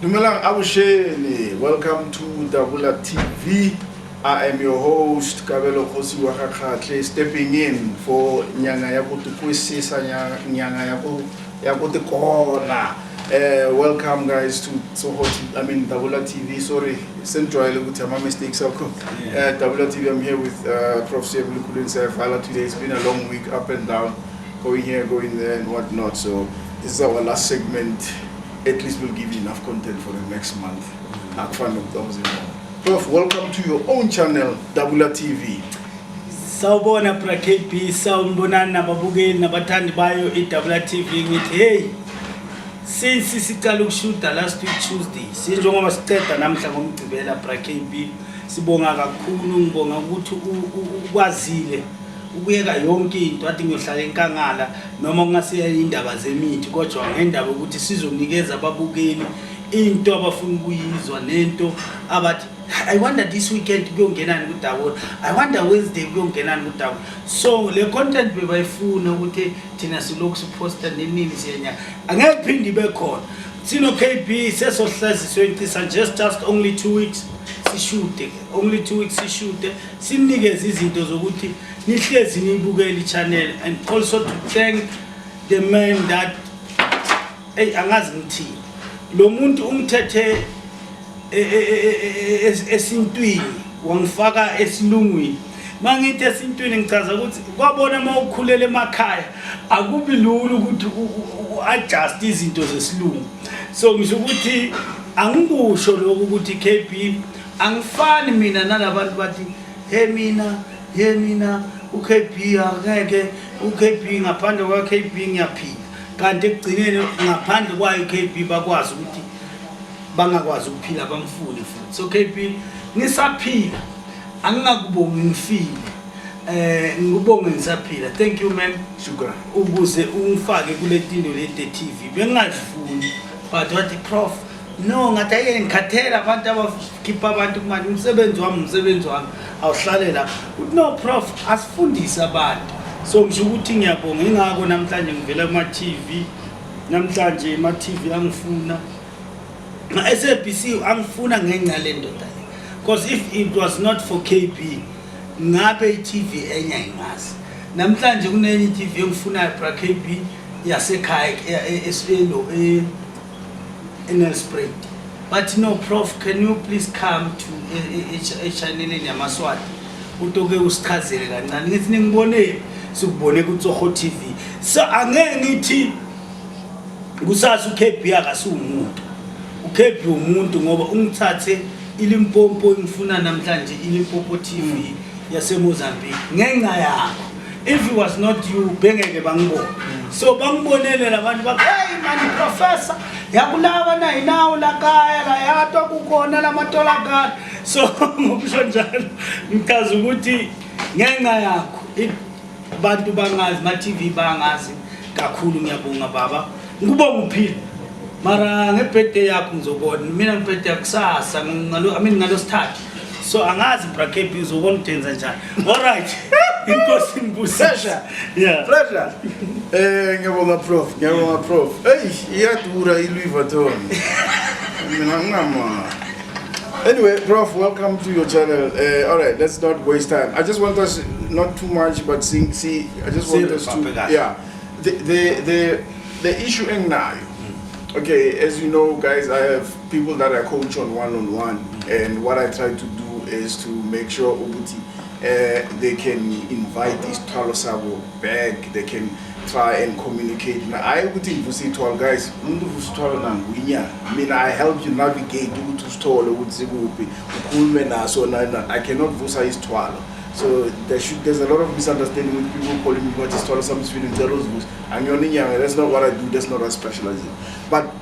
Dumelang abusheni, welcome to Dabula TV. I am your host Kabelo Khosi Wakakhatle stepping in for Nyanga ya kutukwisisa Nyanga ya ku ya kutikona. Eh welcome guys to Soho I mean Dabula TV. Sorry, Central ukuthi ama mistakes akho. Eh Dabula TV I'm here with uh, Prof. Sebulukhulu Nsefala today. It's been a long week up and down. going here, going there, and whatnot. So this is our last segment. At least we'll give you enough content for the next month. Prof, welcome to your own channel, Dabula TV. Sawubona Pra KB, sawubonani nababukeli nabathandi bayo iDabula TV ngithi hey since siqala ukushuta last week Tuesday sinjengoba siqeda namhla ngomgcibela Pra KB sibonga kakhulu ngibonga ukuthi ukwazile ukuyeka yonke into ade ngiyohlala enkangala noma kungasiya indaba zemithi kodwa ngendaba ukuthi sizonikeza ababukeli into abafuna ukuyizwa nento abathi i wonder this weekend kuyongenani kudawona i wonder wednesday kuyongenani kudawona so le content bebayifuna ukuthi thina silokhu siphosta nenini siyenya angeke phinde ibe khona sino kb sesohlaziswe ncisa just just only two weeks sishude only two weeks sishude Simnikeze izinto zokuthi nihlezi niyibukele i-channel and also to thank the man that eyi angazi ngithini lo muntu umthethe e, e, e, esintwini wangifaka esilungwini mangithi esintwini ngichaza ukuthi kwabona uma ukhulela emakhaya akubi lula ukuthi u-adjust izinto zesilungu so ngisho ukuthi angikusho lokhu ukuthi kb Angifani mina nalabantu bathi he mina he mina uKB akeke uKB ngaphandle kwaKB ngiyaphila kanti ekugcineni ngaphandle kwayo uKB bakwazi ukuthi bangakwazi ukuphila bamfuni futhi so KB ngisaphila angingakubongi ngifile eh ngikubonge ngisaphila thank you man shukran ukuze ungifake kule tindo le TV bengazifuni but wathi prof no ngathi ayike ngikhathele abantu abakhipha abantu kumanje umsebenzi wami umsebenzi wami awuhlale la uthi no prof asifundise abantu so ngisho ukuthi ngiyabonga ingako namhlanje ngivela kuma-tv namhlanje ma-tv angifuna ma-sabc angifuna ngenca le ndoda le because if it was not for kb ngabe i-tv enye ayingazi namhlanje kunenye i-tv engifunayo bra kb yasekhaya e, e, e, eNelspruit bathi no prof can you please come to echanneleni e, e, e, yamaswati utoke usichazele kancane ngithi ningibonele sikubone kutsoho tv so angeke ngithi kusasa ukb akasiwumuntu ukb umuntu ngoba ungithathe ilimpompo engifuna namhlanje ilimpompo tv yasemozambique ngenxa yakho if it was not you bengeke bangibone so bangibonele labantu ba hey mani professor yakulaba na inawo la kaya la yato kukhona lamatola kaya so ngokusho njalo ngichaza ukuthi ngenxa yakho abantu bangazi ma TV bangazi kakhulu ngiyabonga baba ngikubonga uphila mara ngebirthday yakho ngizobona mina ngebirthday yakusasa ngalo i mean ngalo sithathu so angazi brakb uzobona udenza njani olright inkosi nibusesha pressure um ngiyabonga prof ngiyabonga prof eyi iyadura iluivaton mina ngingama anyway prof welcome to your channel uh, eh, all right let's not waste time i just want us not too much but see, see i just want us to yeah the, the, the, the issue enginayo okay as you know guys i have people that I coach on one on one and what I try to do is to make sure ukuthi uh, they can invite isithwalo sabo back they can try and communicate hayi ukuthi ngivusa ithwalo guys umuntu uvusa ithwalo nanguinyanga mina i help you navigate ukuthi usithole ukuthi sikuphi ukhulume naso i cannot vusa isithwalo so there should, there's a lot of misunderstanding with people calling me what is isithwalo sami sifile ngicela uzivusa angiyona inyanga that's not what i do that's not what i specialize in but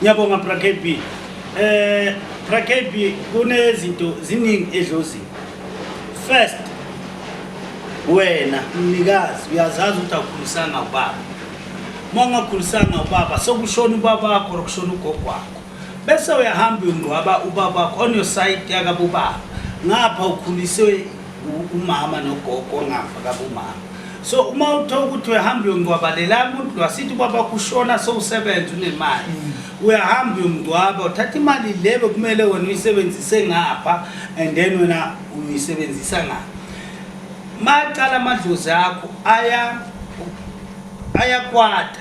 Ngiyabonga Bra KB. Eh Bra KB kunezinto ziningi edlozini. First wena mnikazi uyazazi ukuthi akukhulisanga ubaba. Uma ungakhulisanga ubaba sokushona ubaba wakho okushona ugogo wakho. Bese uyahamba uyongcwaba ubaba wakho on your side yakabobaba. Ngapha ukhuliswe umama nogogo ongafa kabumama so uma uthola ukuthi uyahamba uyongcwabalela umuntu lo asithi ubaba kushona sowusebenza unemali mm. uyahamba uyomngcwaba uthatha imali le bekumele wena uyisebenzise ngapha and then wena uyisebenzisa ngapha maqala amadlozi akho aya ayakwata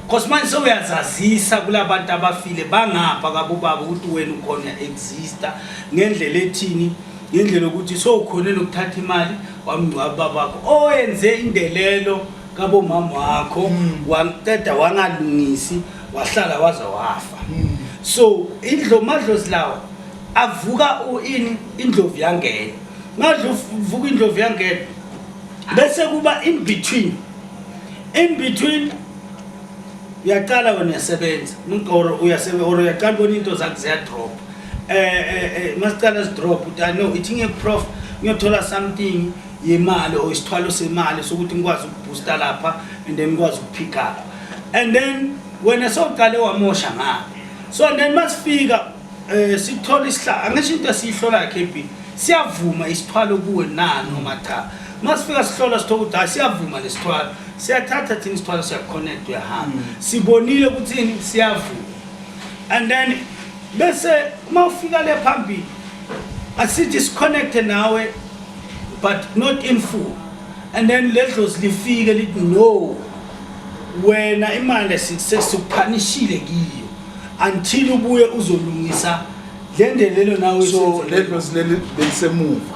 cause manje sewuyazazisa kulabantu abafile bangapha kabobaba ukuthi wena ukhona exista ngendlela ethini ngendlela yokuthi sowukhone nokuthatha imali wamngcwaba babakho owenze indelelo kabomama wakho mm. waqeda wangalungisi wahlala waze wafa mm. so indlo madlozi lawo avuka ini indlovu yangena madlovuka indlovu yangena bese kuba in between in between uyaqala wena uyasebenza umqoro uyasebenza or uyaqala ubona into zakhe ziyadropa eh eh, eh masicala sidrop uthi no ithi ngiyeprof ngiyothola something yemali or isithwalo semali sokuthi ngikwazi ukubooster lapha and then ngikwazi ukupick up and then wena sowuqale wamosha ngalo so and then masifika eh sithola isihla angisho into esiyihlola KB siyavuma isithwalo kuwe na noma cha masifika sihlola sithola ukuthi hayi siyavuma lesithwalo siyathatha thina isithwalo siyaconnect uyahamba mm. sibonile ukuthi siyavuma and then bese uma ufika le phambili asithi siconnecte nawe but not in full and then ledlozi lifike lithi no wena imali sesikuphanishile kiyo until ubuye uzolungisa le ndelelo nawe so ledlozi leli belisemuva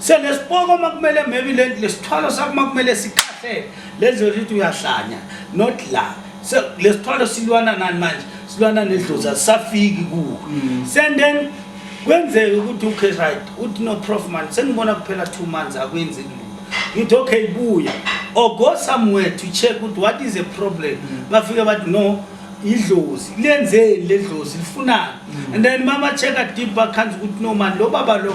so lesipoko uma kumele maybe lesithwalo sakho uma kumele sikhahlele lenziwe ukuthi uyahlanya not la so lesithwalo silwana nani manje silwana nedlozi asisafiki kuwo mm. and then kwenzeke ukuthi okay right uthi no prof man sengibona kuphela two months akwenzi lutho ngithi okay buya or go somewhere to check ukuthi what is a problem mm. bafike bathi no idlozi lenzeni ledlozi lifunani mm. and then mama check a deep bakhanzi ukuthi no man lo baba lo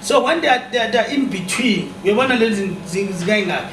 so when they are, they are, they are in between uyabona lezi zikayingaki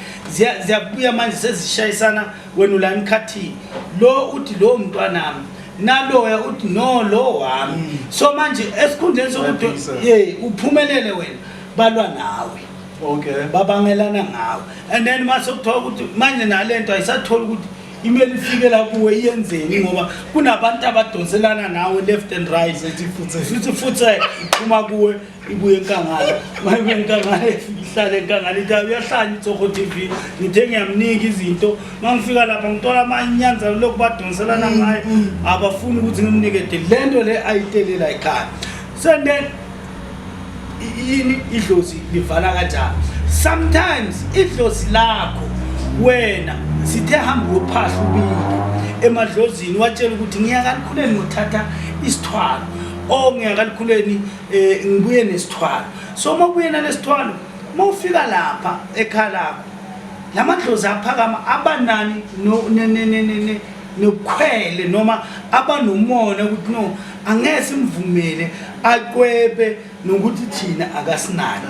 ziyabuya manje sezishayisana wena ulani khathini lo uthi lo mntwanami naloya uthi no lo wami mm. so manje esikhundleni sokuthi ye uphumelele wena balwa nawe okay babangelana ngawe and then mase kuthiwa ukuthi manje nalento ayisatholi ukuthi imele ifike la kuwe iyenzeni ngoba kunabantu abadonselana nawe left and right futhi futhi iphuma kuwe ibuye enkangala mayibuye enkangala ihlale enkangala ithi uyahlanya itsoko t v ngithe ngiyamnika izinto uma ngifika lapha ngithola amanyanza lokhu badonselana mm, ngayo mm. abafuni ukuthi ngimnike de le nto le ayitelela ekhaya senden yini idlozi livala kanjani sometimes idlozi lakho wena sithe hamba uyophahla ubike emadlozini watshela ukuthi ngiyakalikhuleni ngothatha isithwalo o oh, ngiyakalikhuleni eh ngibuye nesithwalo so uma ubuye nalesithwalo uma ufika lapha ekhaya lakho la madlozi aphakama abanani nokhwele noma abanomona ukuthi no angeke simvumele aqwebe nokuthi thina akasinaki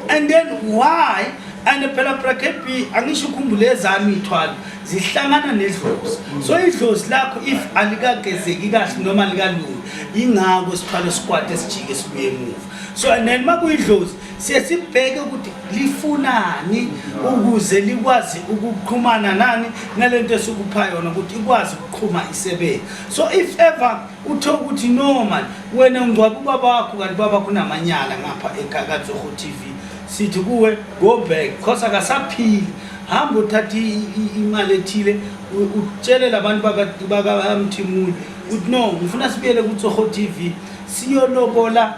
and then why and phela bracket b angisho ukhumbule ezami ithwala zihlangana nedlozi so idlozi lakho if alikagezeki kahle noma likalungi yingako sithwala isikwati esijike sibuye emuva so and then uma kuyidlozi siye sibheke ukuthi lifunani ukuze likwazi ukuqhumana nani nale nto esukupha yona ukuthi ikwazi ukuqhuma isebenzi so if ever Uthe ukuthi no man wena ungcwaba ubaba wakho kanti baba kunamanyala ngapha eKakatsogo TV sithi kuwe go back cause akasaphili hamba uthatha imali ethile utshele labantu bakamthimuli ukuthi no ngifuna sibuyele kuTsogo TV siyolobola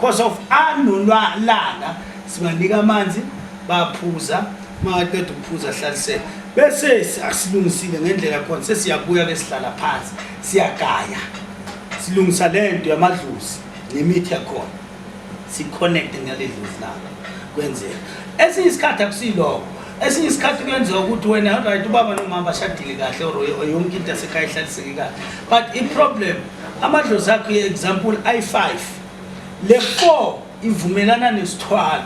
Cause of anulwalanga singanika amanzi baphuza maqeda ukuphuza hlalisela bese asilungisile ngendlela khona sesiyabuya ke sihlala phansi siyagaya silungisa le nto yamadlozi nemithi yakhona siconnecte ngale dlozi labo kwenzeka esinye isikhathi akusiloko esinye isikhathi kuyenzeka ukuthi wena right ubaba nomama bashadile kahle or yonke into yasekhaya ihlaliseke kahle but i-problem amadlozi akho ye-example i-five Le 4 ivumelana nesithwalo.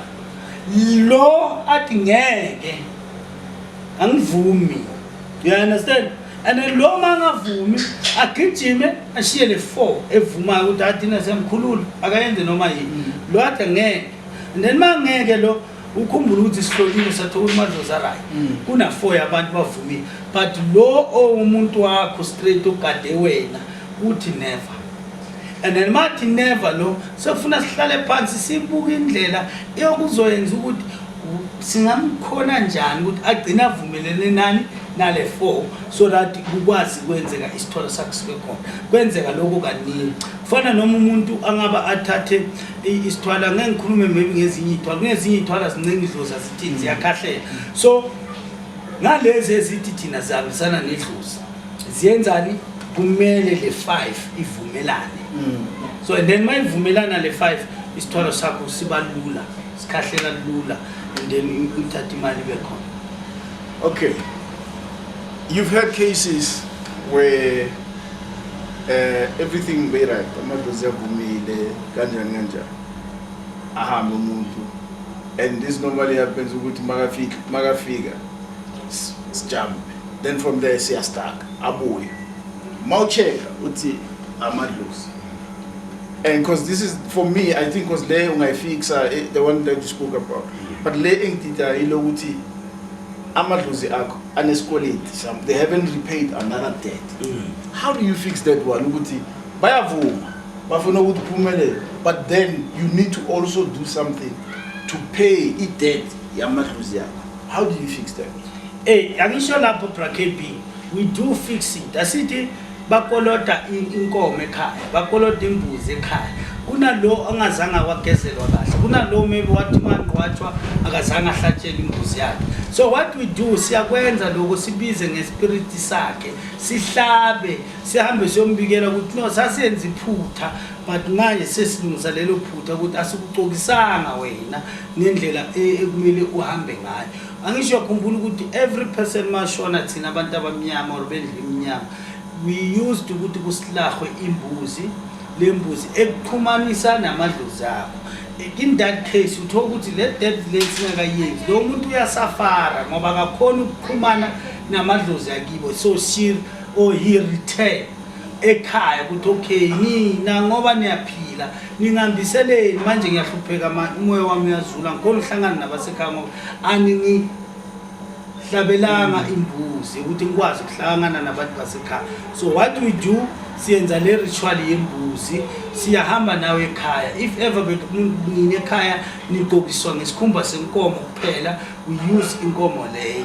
Lo athi ngeke angivumi. You understand? And then lo mangavumi agijime ashiye le 4 evumayo ukuthi athi na semkhulula akayenze noma yini. Lo athi ngeke. And then mangeke lo ukhumbula ukuthi sihlolile sathola ukuthi madlozi arayi mm. kuna-four yabantu bavumile but lo owumuntu wakho straight ogade wena kuthi never and then mathi never lo sekufuna sihlale phansi sibuke indlela eyokuzoyenza ukuthi singamkhona njani ukuthi agcine avumelene nani nale four so that kukwazi kwenzeka isithole sakhe sibe khona kwenzeka lokho kaningi kufana noma umuntu angaba athathe isithwala ngeke ngikhulume maybe ngezinye iy'thwala kunezinye iy'thwala zincenge idlozi azithini ziyakhahlela so ngalezi ezithi thina zihambisana nedlozi ziyenzani kumele le 5 ivumelane mm. so and then mayivumelana le 5 isithwalo sakho siba lula sikhahlela lula and then uthatha imali ibe khona okay you've had cases where uh, everything be right amadlozi avumile kanjani kanjani ahambe umuntu and this normally happens ukuthi makafika makafika sijambe then from there siya stuck abuye mawucheka uthi amadlozi and because this is for me i think because le ungayifixa eh, the one that you spoke about but le engidida yilokuthi amadlozi akho anesikweleti some they haven't repaid another debt mm. how do you fix that one ukuthi bayavuma bafuna ukuthi uphumelele but then you need to also do something to pay i-debt yamadlozi yakho How do you fix that? Hey, eh, angisho lapho bra KB. We do fix it. Asithi bakolota inkomo ekhaya, bakolota imbuzi ekhaya. Kunalo angazange wagezelwa kahle. Kunalo maybe wathi manqwathwa akazange ahlatshele imbuzi yakhe. So what we do siyakwenza lokho sibize ngespirit sakhe. Sihlabe, sihambe siyombikela ukuthi no sasenza iphutha but manje sesilungisa lelo phutha ukuthi asikucokisanga wena. nendlela e- ekumele uhambe ngayo angisho uyakhumbula ukuthi every person mashona thina abantu abamnyama or bendlu emnyama we used ukuthi kusilahwe imbuzi le mbuzi ekuxhumanisa namadlozi akho in that case uthola ukuthi le death le singakayenzi lo muntu uyasafara ngoba akakhona ukuxhumana namadlozi akibo so she or he return ekhaya ukuthi okay nina ngoba niyaphila ningambiseleni manje ngiyahlupheka umoya wami uyazula ngikhona uhlangana nabasekhaya ngoba aninihlabelanga imbuzi ukuthi ngikwazi ukuhlangana nabantu basekhaya so what we do siyenza le ritual yembuzi siyahamba nawe ekhaya if ever nina ekhaya nigqokiswa ngesikhumba senkomo kuphela we use inkomo leyo